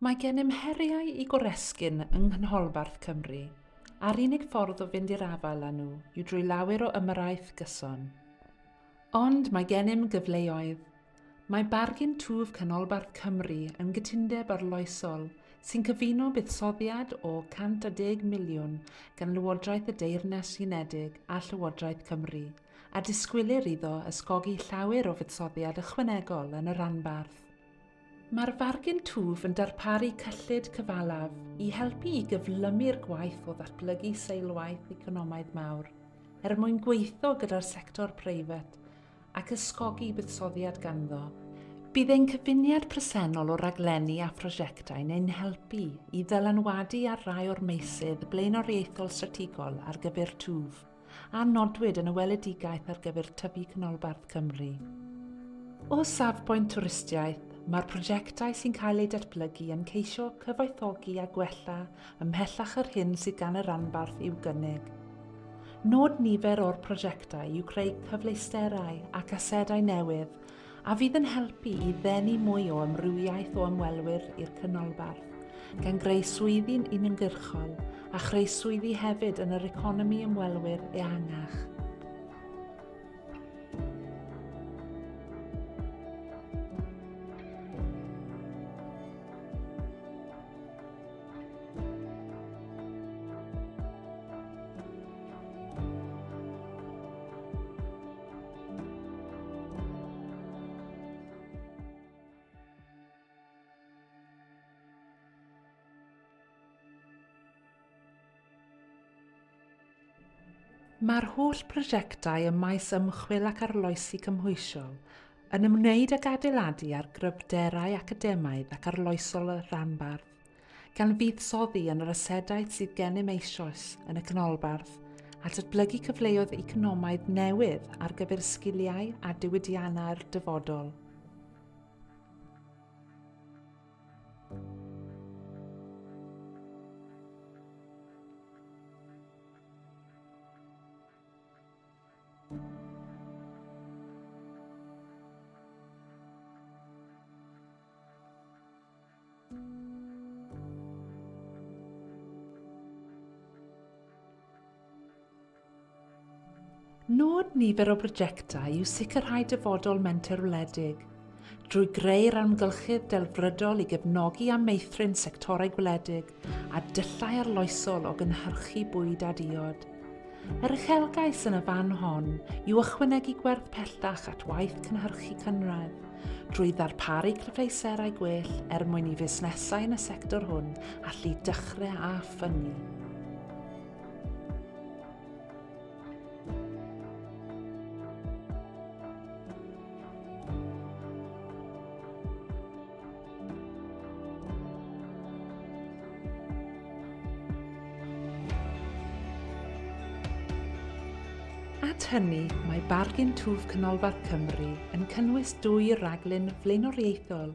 Mae gennym heriau i goresgyn yng Nghynholbarth Cymru, a'r unig ffordd o fynd i'r afael â nhw yw drwy lawer o ymyrraeth gyson. Ond mae gennym gyfleoedd. Mae Bargin Twf Canolbarth Cymru yn gytundeb arloesol sy'n cyfuno buddsoddiad o 110 miliwn gan Lywodraeth y Deyrnas Unedig a Llywodraeth Cymru, a disgwylir iddo ysgogi llawer o fuddsoddiad ychwanegol yn y rhanbarth. Mae'r Fargen Twf yn darparu cyllid cyfalaf i helpu i gyflymu'r gwaith o ddatblygu seilwaith economaidd mawr er mwyn gweithio gyda'r sector preifat ac ysgogi buddsoddiad ganddo. Bydd ein cyfuniad presennol o raglenni a phrosiectau'n ein helpu i ddylanwadu ar rai o'r meysydd blaenoriaethol strategol ar gyfer twf. a nodwyd yn y weledigaeth ar gyfer tyfu canolbarth Cymru. O safbwynt twristiaeth, mae'r prosiectau sy'n cael eu datblygu yn ceisio cyfoethogi a gwella ymhellach yr hyn sydd gan y ranbarth i'w gynnig. Nod nifer o'r prosiectau yw creu cyfleusterau ac asedau newydd a fydd yn helpu i ddenu mwy o amrywiaeth o ymwelwyr i'r Canolbarth, gan greu swyddi'n uniongyrchol a chreu swyddi hefyd yn yr economi ymwelwyr ehangach. Mae'r holl brosiectau ym maes ymchwil ac arloesi cymhwysiol yn ymwneud ag adeiladu ar gryfderau academaidd ac arloesol y rhanbarth. gan fuddsoddi yn yr asedau sydd gennym eisoes yn y canolbarth a datblygu cyfleoedd economaidd newydd ar gyfer sgiliau a diwydiannau'r dyfodol. Nod nifer o brojectau yw sicrhau dyfodol menter wledig, drwy greu'r amgylchedd delfrydol i gefnogi a meithrin sectorau gwledig, a dyllau arloesol o gynhyrchu bwyd a diod. Yr uchelgais yn y fan hon yw ychwanegu gwerth pellach at waith cynhyrchu cynradd, drwy ddarparu cyfleusterau gwell er mwyn i fusnesau yn y sector hwn allu dechrau a ffynnu. At hynny, mae Bargain Twf Canolbarth Cymru yn cynnwys dwy raglen flaenoriaethol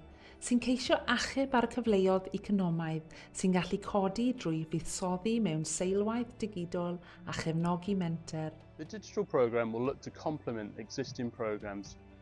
sy'n ceisio achub ar y cyfleoedd economaidd sy'n gallu codi drwy fuddsoddi mewn seilwaith digidol a chefnogi menter. The digital programme will look to complement existing programmes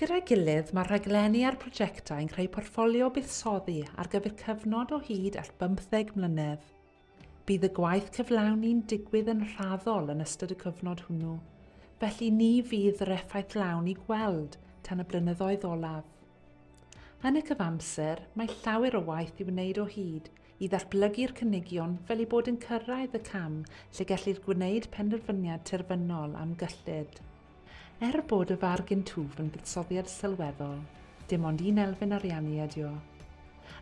Gyda'i gilydd, mae'r rhaglenni a'r prosiectau yn creu portffolio buddsoddi ar gyfer cyfnod o hyd at bymtheg mlynedd. Bydd y gwaith cyflawni'n digwydd yn raddol yn ystod y cyfnod hwnnw, felly ni fydd yr effaith lawn i gweld tan y blynyddoedd olaf. Yn y cyfamser, mae llawer o waith i wneud o hyd i ddatblygu'r cynigion fel i bod yn cyrraedd y cam lle gellir gwneud penderfyniad terfynol am gyllid. Er bod y farg yn twf yn fuddsoddiad sylweddol, dim ond un elfen ariannu ydy o.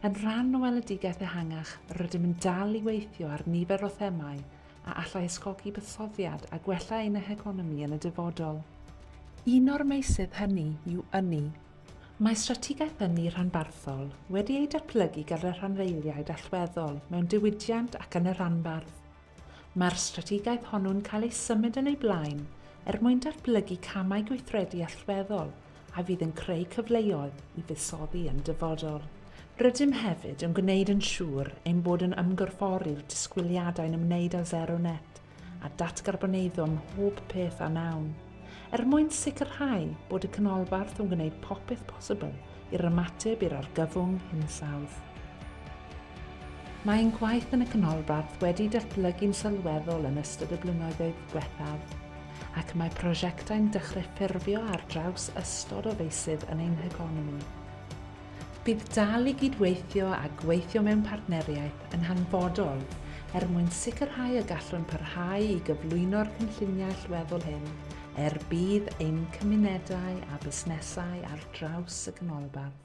Yn rhan o weledigaeth ehangach, rydym yn dal i weithio ar nifer o themâu a allai ysgogi buddsoddiad a gwella ein heconomi yn y dyfodol. Un o'r meysydd hynny yw ynni. Mae Strategaeth Ynni Rhanbarthol wedi ei datblygu gan y rhanddeiliaid allweddol mewn diwydiant ac yn y rhanbarth. Mae'r strategaeth honno'n cael ei symud yn ei blaen er mwyn datblygu camau gweithredu allweddol a fydd yn creu cyfleoedd i fuddsoddi yn dyfodol. Rydym hefyd yn gwneud yn siŵr ein bod yn ymgorffori'r disgwyliadau'n ymwneud â Zero Net a datgarboneiddio ym mhob peth a wnawn, er mwyn sicrhau bod y canolbarth yn gwneud popeth posibl i'r ymateb i'r argyfwng hinsawdd. Mae ein gwaith yn y Canolbarth wedi datblygu'n sylweddol yn ystod y blynyddoedd diwethaf, ac mae prosiectau'n dechrau ffurfio ar draws ystod o feysydd yn ein heconomi. Bydd dal i gydweithio a gweithio mewn partneriaeth yn hanfodol er mwyn sicrhau y gallwn parhau i gyflwyno'r cynlluniau allweddol hyn Er budd ein cymunedau a busnesau ar draws y Canolbarth.